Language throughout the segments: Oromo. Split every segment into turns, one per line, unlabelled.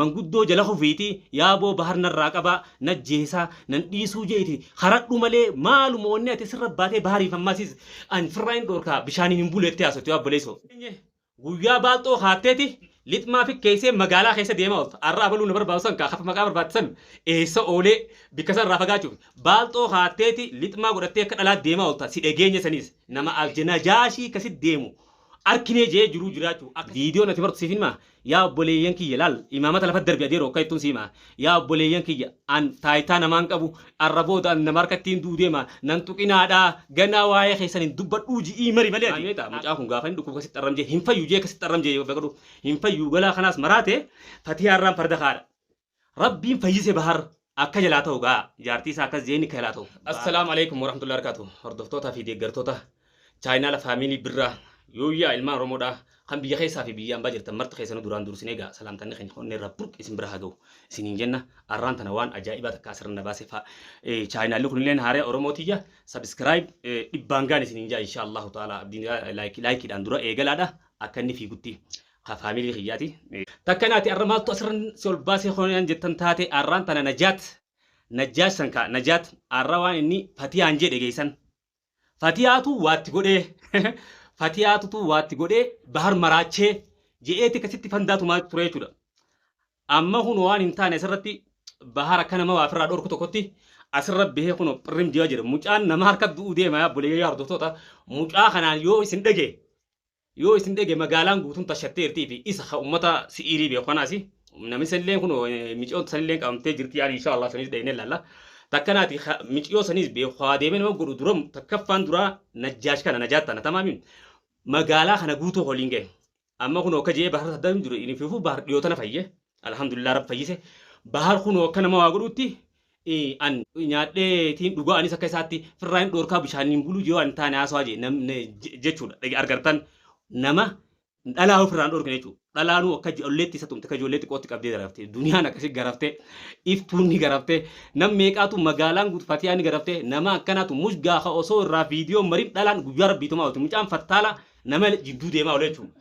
Manguddoo jala kufiiti yaaboo bahar narraa qabaa najjeesaa nan dhiisuu jeeti karadhu malee maaluma onnee ati sirra baatee bahariif ammaa sis an firraa hin dhorkaa bishaaniin hin bulu jettee haasofti yaa obboleesso. Guyyaa baalxoo kaatteeti lixmaa fikkeessee magaalaa keessa deemaa oolta arra abaluu na barbaadu san kaa kaf maqaa barbaadde san eessa oolee bikka san irraa fagaachuuf baalxoo kaatteeti lixmaa godhattee akka dhalaatti deemaa oolta si dhageenye saniis nama aljenajaashii ka sit deemu arkinee je'ee jiruu jiraachuu akka viidiyoon ati martu siif hin himaa Yaa obboleeyyan kiyya, laal, imaamata lafatti darbi adeeroo akka jettuun si hima. Yaa obboleeyyan kiyya, an taayitaa namaa hin qabu, arra booda an nama harkatti hin du'u deema, nan tuqinaadhaa, ganaa waayee keessan hin dubbadhuu ji'ii mari malee ati. Maal beektaa, mucaan kun gaafa inni dhukkuba kasitti arram jee, hin fayyu jee kasitti arram jee yoo beekadhu, hin fayyu galaa kanaas maraate, fatiyaarraan farda kaadha. Rabbiin fayyise bahar akka jalaa ta'u gaa jaartii isaa akkas jeeni akka jalaa ta'u. Assalaamu Aleeykum Warahmatullahi Wabarakaatu Hordoftootaa fi Deeggartoota Chaayinaala Faamiilii Birraa Yooyyaa Ilmaan Oromoo dhaa Kan Biyya Keessaa fi Biyya Ambaa Jirtan Marti Keessanuu Duraan Duursinee Gaa Salaamtanni Keenya Kan Onnee Irraa Burqe Isin Bira Haa Gahu Isiniin Jenna Arraan Tana Waan Ajaa'ibaa Takka Asirra Na Baase Faa Chaayinaalli Kun Illeen Haaraya Oromoo Tiyya Subscribe Dhibbaan Gaan Isiniin Jaa Inshaa Allahu Ta'ala Abdiin Like Like dhaan Dura Eegalaa dha Akka Inni Fiigutti ka family kiyyaati. Takka naati arra maaltu asirran si ol baasee kooniyaan jettan taate arraan tana najaat najjaash san ka najaat arra waan inni fatiyaan jee dhegeessan fatiyaatu waatti godhee fatiyaatutu waatti godhee bahar maraachee je'eeti kasitti fandaa tumaa turee jechuudha amma kun waan hin taane asirratti bahar akka nama waa firraa dhorku tokkotti asirra bahee kun phirrim ji'a jedha mucaan nama harka du'uu deema yaa bulee yaa hordoftoota mucaa kanaan yoo isin dhagee Yoo isin dhage magaalaan guutuun tashatteertii fi isa ka ummata si'iirii beeku kanaas namni sanillee kun miciyoon sanillee qabamtee jirti yaani inshaa Allah sanis dhaynee laalla. Takkanaati miciyoo sanis beeku haa deemee nama godhu dura takkaffaan duraa najjaash kana najaat tana tamaami magaalaa kana guutuu holiin ga'e. Amma kun akka je'ee bahar saddaa hin jiru inni fiifuu bahar dhiyoo tana fayye alhamdulillah rabbi fayyise bahar kun akka nama waa godhuutti ee an nyaadhee tiin dhugaa anis akka isaatti firraa hin dhoorkaa bishaaniin buluu yoo an taane haasawaa jee nam- ne- je- jechuudha Dhage- argartan nama dhalaa yoo firraan dhoorkine jechuudha dhalaanuu akka ij- olleetti isa tumte akka ijoollee xiqqootti qabdee garaftee duniyaan akkasi garaftee iftuun ni garaftee nam meeqaatu magaalaan guutu fatiyaan ni garaftee nama akkanaatu mush gaafa osoo irraa viidiyoo marin dhalaan guyyaa rabbiitumaa oolti mucaan fattaala nama jidduu deemaa oole jechuudha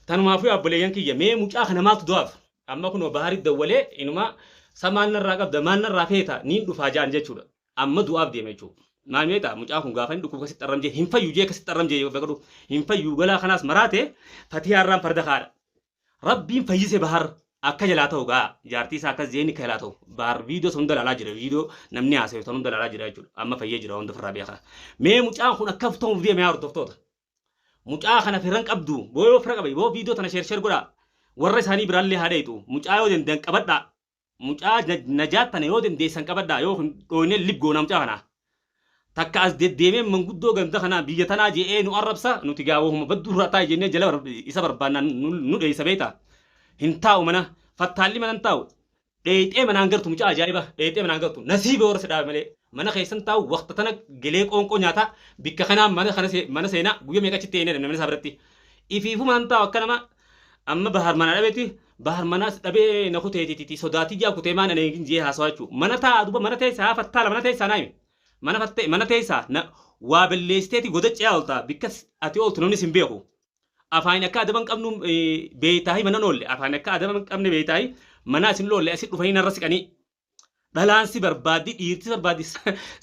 tanumaafuu abboleeyyan kiyya mee mucaa kana maaltu du'aaf Amma kunoo Baharitti dawwalee inumaa sa maal narraa qabda maal narraa feeta niin dhufaa ja'an jechuudha. Amma du'aaf deema jechuu. Maal meeqaa mucaan kun gaafa inni dhukkubu kasitti arram jee hin fayyu jee kasitti arram jee beekadhu hin fayyuu galaa kanaas maraate fatiyaa irraan farda kaadha. Rabbiin fayyise Bahar akka jalaa ta'u gaa jaartii isaa akkas jeeni akka jalaa ta'u Bahar viidiyoo san hunda ilaalaa jira viidiyoo namni haasayu san hunda ilaalaa jira jechuudha amma fayyee jira hunda ofirraa beekaa. Mee mucaan kun akkam ta'uuf deema yaa hordoftoota. Mucaa kana firan qabdu boo yoo fira qabe boo viidiyoo tana sheer sheer godhaa warra isaanii biraallee haa dhayitu mucaa yoo dandan qabadhaa mucaa najaat tana yoo dandeessan qabadhaa yoo hin dhooynee lib goonaa mucaa kanaa takka as deddeemee manguddoo ganda kanaa biyya tanaa je'ee nu arrabsa nuti gaa wahuma badduu irraa taa'e jennee jala isa barbaannaan nu dheessa beeyta hin taa'u mana fattaalli mana hin taa'u Dheeyxee manaan galtu mucaa ajaa'iba dheeyxee manaan galtu nasiiba warra si dhaabe malee mana keessan taa'u waqta tana gelee qoonqoo nyaataa bikka kanaa mana kana see- mana seenaa guyya meeqa achitti eenee namni isaa biratti ifiifumaan taa'u akka nama amma bahar manaa dhabeeti bahar manaas dhabee na kuteetititi sodaatii jaa kutee maan anee hin jee haasawaa jechuu mana taa'a duba mana teessaa haa fattaala mana teessaa naayime mana fattee mana teessaa na waa balleessiteeti godachi'aa oltaa bikkas ati ooltu namni sin beeku Afaanin akka adaba hin qabnu beeytaahi mana noolle. Afaanin akka adaba hin qabne beeytaahi manaa isin loolle asi dhufanii narra siqanii. Dhalaan si barbaaddi dhiirti barbaaddi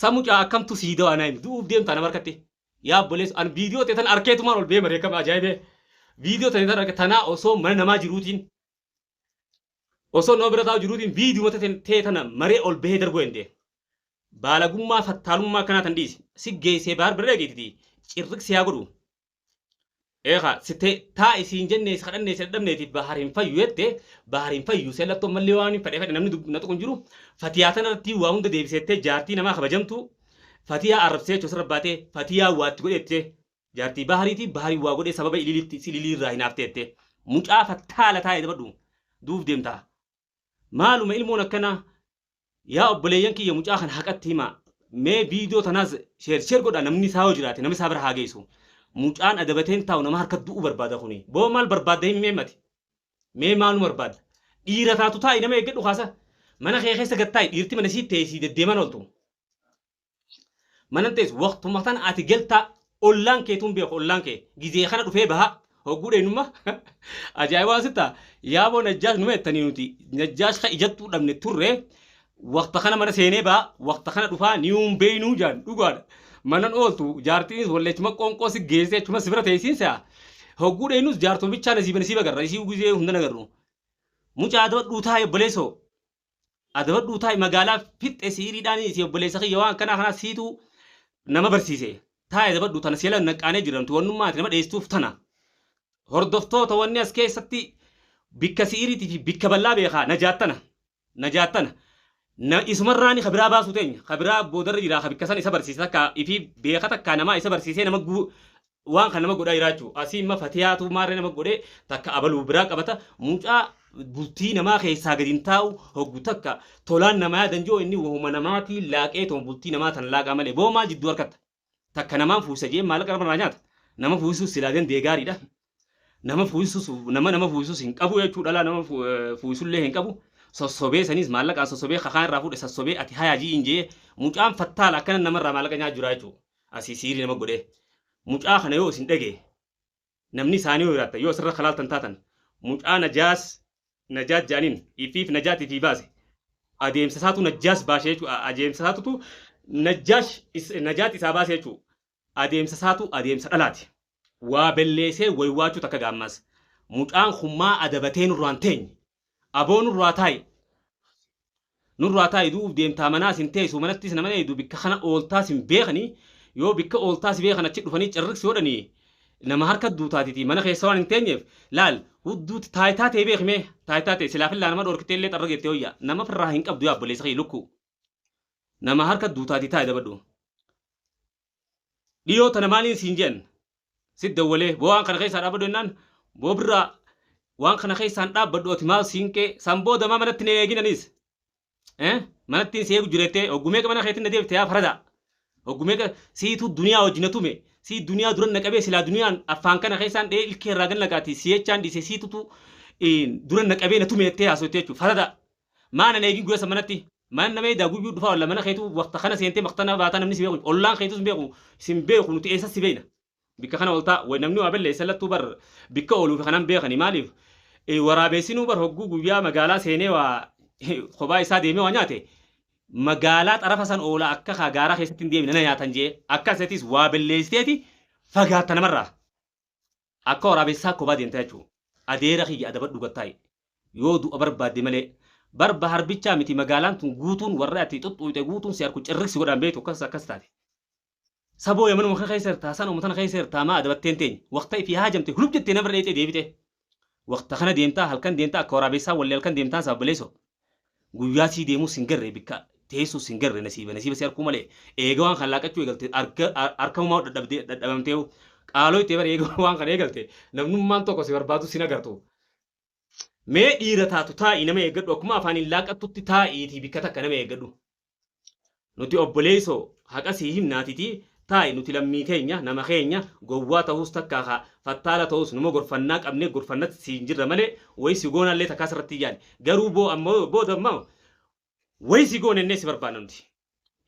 samucaa akkamtu sii dawaa naa himi du'uuf deemtaa nama harkatti. Yaa obboleessa an viidiyoo ta'e tan arkeetumaan ol bee mareekama ajaa'ibee. Viidiyoo ta'e tan arke tanaa osoo mana namaa jiruutiin osoo nama bira taa'u jiruutiin viidiyoo ta'e tana maree ol bahee darbuu hin deemu. Baalagummaa fattaalummaa akkanaa tan dhiisi. Si geessee baar bira dhageetiti cirriq si haa godhu. Ee kaa site taa isiin jennee si kadhannee si dadhabneeti bahar hin fayyu jette bahar hin fayyu seen lattu ammallee waan hin fedhe fedhe namni dub- na tuqu hin jiru fatiyaa tana irratti waa hunda deebiseettee jaartii namaa kabajamtu fatiyaa arrabsee jechuu sirra baatee fatiyaa waatti godheette jaartii bahariiti bahari waa godhee sababa ililiitti si ililii irraa hin haafteette mucaa fattaala taa'e dabadhu duuf deemtaa Maaluma ilmoon akkanaa Yaa obboleeyyan kiyya mucaa kana haqatti himaa mee viidiyoo tanaas sheer sheer godhaa namni isaa yoo jiraate namni isaa bira haa geessu mucaan adabatee hin taa'u nama harka du'uu barbaada kuni boo maal barbaadda himi mee mati mee maaluma barbaadda dhiira taatu taa'i nama eeggadhu kaasa mana kee keessa gad taa'i dhiirti mana isiitti ta'e sii deddeeman ooltu Manan teessu waqtuma sana ati galtaa ollaan keetuu hin beeku ollaan kee gizee kana dhufee bahaa hogguu dheenumma ajaa'ibaa sitta yaaboo najjaash numa jettanii nuti najjaash ka ijattuu dhabne turre waqta kana mana seenee bahaa waqta kana dhufaa ni hin beeynuu jaan dhugaadha manan ooltu jaartiinis wallee achuma qoonqoo si geessee achuma si bira teessiin se'a hogguu dheenus jaartuma bichaa nasiiba nasiiba garra isii gizee hunda nagarru mucaa dabadhuu taa'e obboleessoo adabadhuu taa'i magaalaa fixxe siiriidhaan si obboleessa kiyya waan akkanaa kanaa siitu nama barsiise taa'i adabadhu tana si'ala naqqaanee jira nuti wannummaa ati nama dheessuuf tana hordoftoota wanni as keessatti bikka si'iriitii fi bikka bal'aa beekaa najaattana najaattana na isumarraani ka biraa baasuu teenya ka biraa boodarra jira ka bikka san isa barsiise takka ifii beeka takka namaa isa barsiisee nama guu Waan kan nama godhaa jiraachuu asii imma fatiyaatuu maarree nama godhee takka abaluu biraa qabata mucaa bultii namaa keessaa gadi hin taa'u hoggu takka tolaan namaa yaadan joo inni wahuma namaatii laaqee tuma bultii namaa tan laaqaa malee boo maal jidduu harkatta takka namaan fuusisa jee maallaqa nama irraa nyaata nama fuusisus silaa dandee gaariidha nama fuusisus nama nama fuusisus hin qabu jechuu dhalaa nama fu- eh, fuusisullee hin qabu sossobee saniis maallaqaan sossobee kakaan irraa fuudhe sassobee ati hayaa ji'iin jee mucaan fattaala akkana namarraa maallaqa nyaa jiraa jechuu Asii siirii nama godhee. Mucaa kana yoo isin dhagee namni isaanii yoo jiraattan yoo asirra kalaaltan taatan mucaa najaas najaat jedhaniin ifiif najaat ifii baase adeemsa isaatu najjaas baashe jechuu adeemsa isaatutu najjaash najaat isaa baase jechuu adeemsa isaatu adeemsa dhalaati Waa belleesee waywaachuu takka gaa ammaas mucaan kun maa adabatee nurraa hin teenye? Aboo nurraa taa'i! Nurraa taa'i du'uuf deemtaa manaas hin teessu manattis nama hin eeydu bikka kana ooltaas hin beekani yoo bikka ooltaa si beekan achi dhufanii cirriks yoo dhani nama harka duutaatiti mana keessa waan hin teenyeef laal hudduutti taayitaa tee beeki mee taayitaa tee silaa fillaa nama dhoorkitee illee xarra geettee wayya nama firraa hin qabdu yaa obboleessa kiyya lukkuu nama harka duutaati taa'i dabadhu. Dhiyoo tana maaliin siin je'an? Sitti dawwalee boo waan kana keessaa dhaabbadhu jennaan boo birraa waan kana keessaa hin dhaabbadhu ati maal siinqee san booda maa manatti na eegin anis. Eh? Manattiin si eegu jira jettee hoggu meeqa mana keetti na deebite yaa faradaa? Hoggu meeqa siitu duniyaa wajji na tume sii duniyaa duran na qabee silaa duniyaan afaan kana keessaan dhee ilkee irraa gad naqaati si jechaan dhiise siitutu eh, duran na qabee na tume jettee haasoyte jechuudha faradaa. Maa nan eegin guyasa manatti Maan nama edaa guyyuu dhufaa wallah mana keetu waqta kana seentee maqtana baataa namni si beeku ollaan keetu sin beeku sin beeku nuti eessa si beeyna bikka kana oltaa way namni waa balleessa lattuu bar bikka ooluufi kanan beekani maaliif waraabeessinuu bar hogguu guyyaa magaalaa seenee waa kophaa isaa deemee waa nyaate magaalaa xarafa san oola akka kaa gaaraa keessatti hin deemne na nyaatan jee akka setiis waa balleessiteeti fagaatta namarraa. Akka waraabessaa kobaa deemtaa jechuun adeera kiyya adabadhu gattaayi. Yoo du'a barbaadde malee. Bar Bahar bichaa miti magaalaan tun guutuun warri ati xuxxuyxe guutuun si arku cirrik si godhaan beektu akkas akkas taate. Saboo yamanuma kana keessa jirtaa sanuma tana keessa jirtaa maa adabatteen teenya. Waqta ifi haajamte hulub jettee nama irra dheexee deebite. Waqta kana deemtaa halkan deemtaa akka waraabessaa wallee halkan deemtaan saba baleessoo. Guyyaa sii deemuu sin garre bikka teessuu sin garre nasiiba nasiiba si arkuu malee eega waan kan laaqachuu eegalte arga arkamumaa dadhabdee dadhabamteehu qaaloo ittee bar eega waan kan eegalte namnummaan tokko si barbaadu sin agartu mee dhiira taatu taa'ii nama eeggadhu akkuma afaaniin laaqattutti taa'iitii bikka takka nama eeggadhu Nuti obboleeso haqa sii himnaa titi taa'i nuti lammii keenya nama keenya gowwaa tahuus takka ka fattaala tahuus numa gorfannaa qabnee gorfannat siin jirra malee wayi si goonaa illee takkaa sirratti hin yaane garuu boo amma booda amma wayi si goone ennee si barbaanna nuti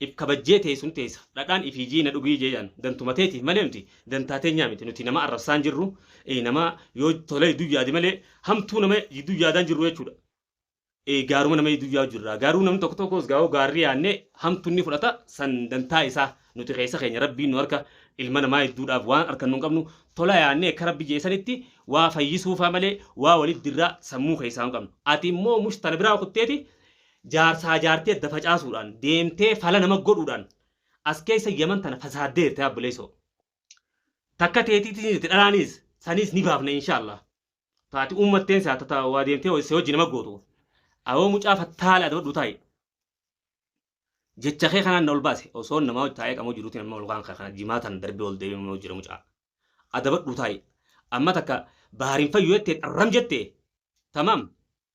if kabajjee teessun teessa dhadhaan ifii jiina dhugii jeeyaan dantuma teetiif malee nuti dantaa teenyaa miti nuti nama arrabsaa hin jirru nama yoo tolee jidduu yaade malee hamtuu nama jidduu yaadaan jirru jechuudha. eh, gaaruma nama hedduu yaa'u jirra. Garuu namni tokko tokkos gaa'oo gaarri yaanne hamtu inni fudhata san dantaa isaa nuti keessa keenya rabbiin nu harka ilma namaa hedduudhaaf waan harkan nun qabnu tola yaanne akka rabbi jeesanitti waa fayyisuufaa malee waa walitti dirraa sammuu keessaa hin qabnu. Ati immoo mush tana biraa kutteeti jaarsaa jaartii adda facaasuudhaan deemtee fala nama godhuudhaan as keessa yaman tana fasaaddee jirte abboleessoo. Takka teetiitiin jirti dhalaanis saniis ni baafna inshaallah. Taati uummatteen isaa tata waa deemtee si hojji nama gootu. Awoo mucaa fattaala adabadhu taa'i. Jecha kee kanaan na ol baase osoo namaa hojji taa'ee qamoo jiruuti nama ol kaan kee kana jimaa tan darbee ol deebiin nama jira mucaa. Adabadhu taa'i. Amma takka baharin fayyu jettee dharram jettee. Tamam.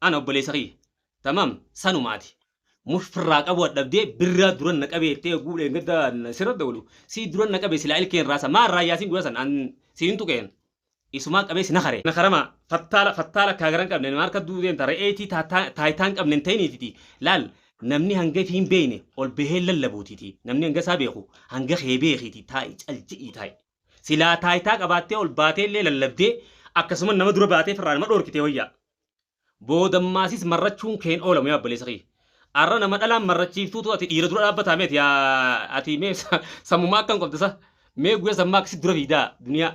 Ana obboleessa kiyya. Tamam sanuma ati. Mush firraa qabu adhabdee birraa duran na qabee jettee oguu dheengadda sirra dawlu sii duran na qabe silaa ilkeen raasa maa irraa yaasin guyyaa san an si hin tuqeen isumaa qabee si nakare. Nakarama fattaala fattaala akkaa gara hin qabne nima harka duu deemta re'ee tii taataa taaytaa hin qabne hin ta'iniititi laal namni hanga ifii hin beeyne ol bahee hin lallabuutiti namni hanga isaa beeku hanga kee beekiiti taa'i cal jedhii taa'i. Silaa taayitaa qabaattee ol baatee illee lallabdee akkasuma nama dura baatee firraa nama dhoorkitee wayya. Boodammaasis marrachuun kee hin oolamu yaa obboleessa kiyya. Arra nama dhalaan marrachiiftuutu ati dhiira dura dhaabbataa mee ati yaa ati mee sa- sammumaa akkam qabda sa? Mee guyyaa sammaa akkasi dura fiidaa duniyaa.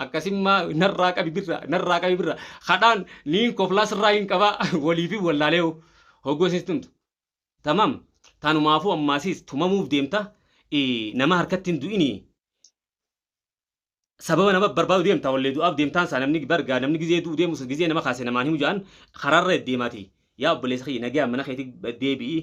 Akkasimmaa narraa qabi birra narraa qabi birra. Kadhaan niin koflaa sirraa hin qabaa waliifi wallaalee hoo. Hoggoo isin tumtu. Tamam tanumaafuu ammaasiis tumamuuf deemta i nama harkatti hin du'inii. Sababa nama barbaadu deemta wallee du'aaf deemtaan saa namni bar gaa namni gizee du'u deemus gizee nama kaase namaan himu ja'an karaarra deddeema ati yaa obboleessa kiyya nagayaan mana keeti deebi'i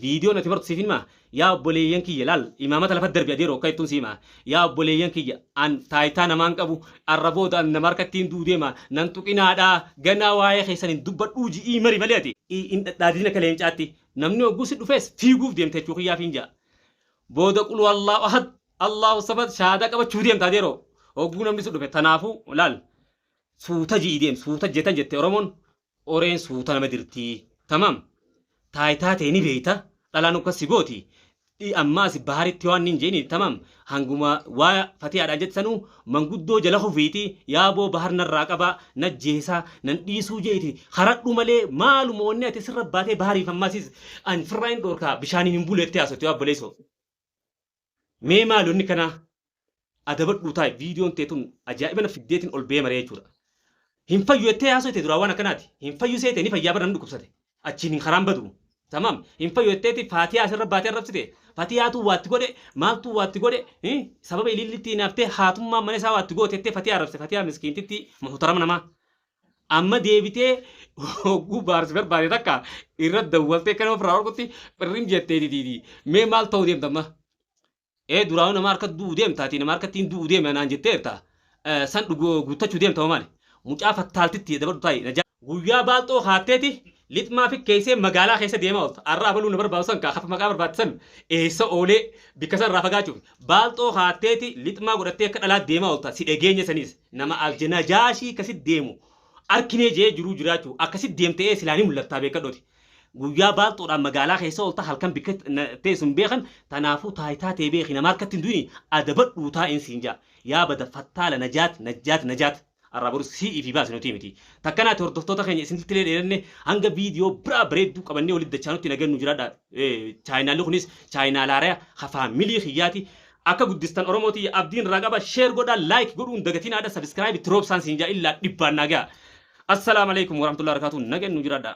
viidiyoon ati martu siif hin hima yaa obboleeyyan kiyya laal imaamata lafa darbi adeero akka jettuun si hima Yaa obboleeyyan kiyya! An taayitaa namaa hin qabu, arra booda an nama harkatti hin du'u deema, na hin tuqinaadhaa, ganaa waayee keessan hin dubbadhuu ji'ii mari malee ati. hin dhadhaadin akka leencaatti, namni hogguu si dhufees fiiguuf deemta jechuu kiyyaafiin ja'a. Booda qul huwallaahu ahad, Allaahu samad shahaadaa qabachuu deemta ati yeroo, hogguu namni si dhufe, tanaafuu laal, suuta ji'i deem, suuta jetan jette oromoon, Qoreen suuta nama dirtii. Tamam. Taaytaa tee ni beeyta, dhalaan ukkas si gooti, dhi ammaas Baharitti waan niin je'iniin tamam hanguma waa Fatiyaadhaan jette sanuu manguddoo jala kufiiti yaa boo Bahar narraa qabaa, najjeesaa, nan dhiisuu je'iti karadhu malee maaluma wanni ati sirra baatee Bahariif ammaasiis an firraa hin dhoorkaa bishaaniin hin bulu jettee haasofti yaa obboleeysoo. Mee maali wanni kanaa adabadhuu taa'e viidiyoon tee tun ajaa'iba na fiddeetiin ol bee maree jechuudha. Hin fayyu jettee haasoo tee duraa waan akkanaati. Hin fayyu seete ni fayyaa bara namni dhukkubsate. Achiin hin karaan badu. Tamaam hin fayyu jetteeti faatiyaa asirra baatee arrabsite. Fatiyaatuu waatti godhe maaltuu waatti godhe hin sababa iliillitti hinaaftee haatummaan mana isaa waatti goote jettee fatiyaa arrabsite fatiyaa miskiintittii muhutarama namaa. Amma deebitee hogguu baarsi barbaade takka irra dawwaltee kan ofirraa orkutti phirrim jettee ditiiti. Mee maal ta'uu deemta amma? Ee duraanuu nama harka du'u deemta ati nama harka ittiin du'u deema naan jetteerta. Eh, San dhugu- guuttachuu deemta moo maali? Mucaa fattaaltitti dabardu taa'i. Najaa. Guyyaa baalxoo kaatteeti Lixmaa fikkeessee magaalaa keessa deemaa oolta. Arra abaluu na barbaadu san kaa maqaa barbaadde san eessa oolee bikka san irraa fagaachuuf baalxoo kaatteeti lixmaa godhattee akka dhalaatti deemaa oolta si dhageenye saniis. Nama alj najaashii ka sit deemu arkinee je'ee jiruu jiraachuu akka sit deemte ee silaa ni mullattaa beekkadhooti. Guyyaa baalxoodhaan magaalaa keessa oolta halkan bikka teessu hin beekan tanaafuu taaytaa tee beeki nama harkatti hin du'ini adabadhuu taa'iin siin ja'a. Yaa bada fattaala najaat najjaat najaat. Arraa boru sii fi baasi nutii miti. Takkanaati hordoftoota keenya isinittilee dheeranne hanga viidiyoo biraa bareedduu qabannee walitti dachaanutti nagaan nu jiraadha. Chaayinaalli kunis chaayinaal haaraya ka faamilii kiyyaati. Akka guddistan Oromoo tiyya abdiin irraa qaba. Share godhaa, like godhuu hin dagatinaadha. Subscribe itti roobsaan siin jaa illaa dhibbaan naa gaha. Assalaamu alaikum warahmatullahi wabarakatuh. Nagaan nu jiraadha.